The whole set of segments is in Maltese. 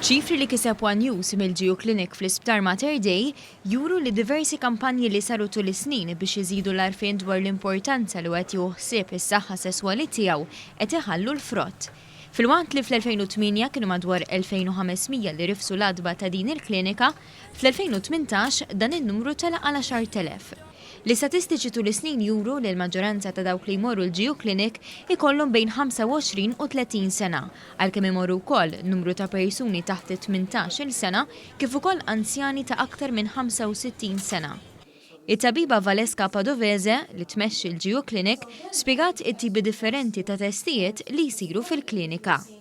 Ċifri li kiseb one News mill-GU Clinic fl-Isptar Mater Dei juru li diversi kampanji li saru tul is-snin biex iżidu l-għarfien dwar l-importanza li wieħed jieħu ħsieb is-saħħa sesswali tiegħu qed iħallu l-frott. Filwaqt li fl-2008 kienu madwar 2,500 li rifsu l-għatba ta' din il-klinika, fl-2018 dan in-numru tela' għal 10,000. L-istatistiċi tul is-snin juru li l-maġġoranza ta' dawk li jmorru l-GU Clinic ikollhom bejn 25 u 30 sena, għalkemm imorru wkoll numru ta' persuni taħt it-tmintax-il sena kif ukoll anzjani ta' aktar minn 65 sena. It-tabiba Valeska Padovese, li tmexxi l-GU Clinic, spjegat it-tipi differenti ta' testijiet li jsiru fil-klinika.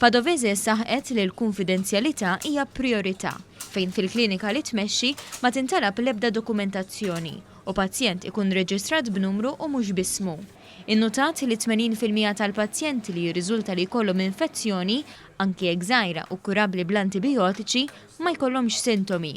Padovese saħqet li l-kunfidenzjalità hija prijorità fejn fil-klinika li tmexxi ma tintalab l-ebda dokumentazzjoni u pazjent ikun reġistrat b'numru u mhux b'ismu. Innutat li 80 fil-mija tal-pazjenti li jirriżulta li jkollhom infezzjoni, anki jekk żgħira u kurabbli bl-antibijotiċi, ma jkollhomx sintomi.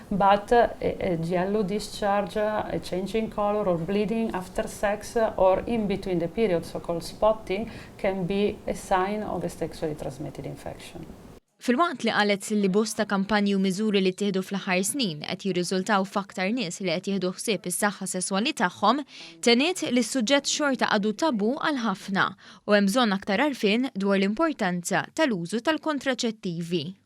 Mbagħad yellow discharge, change in colour or bleeding after sex or in between the periods, so called spotting, can be a sign of a sexually transmitted infection. Filwaqt li qalet li bosta kampanji u miżuri li ttieħdu fl-aħħar snin qed jirriżultaw f'aktar nies li qed jieħdu ħsieb is-saħħa sesswali tagħhom, tenniet li s-suġġett xorta għadu tabù għal ħafna u hemm bżonn aktar għarfien dwar l-importanza tal-użu tal-kontraċettivi.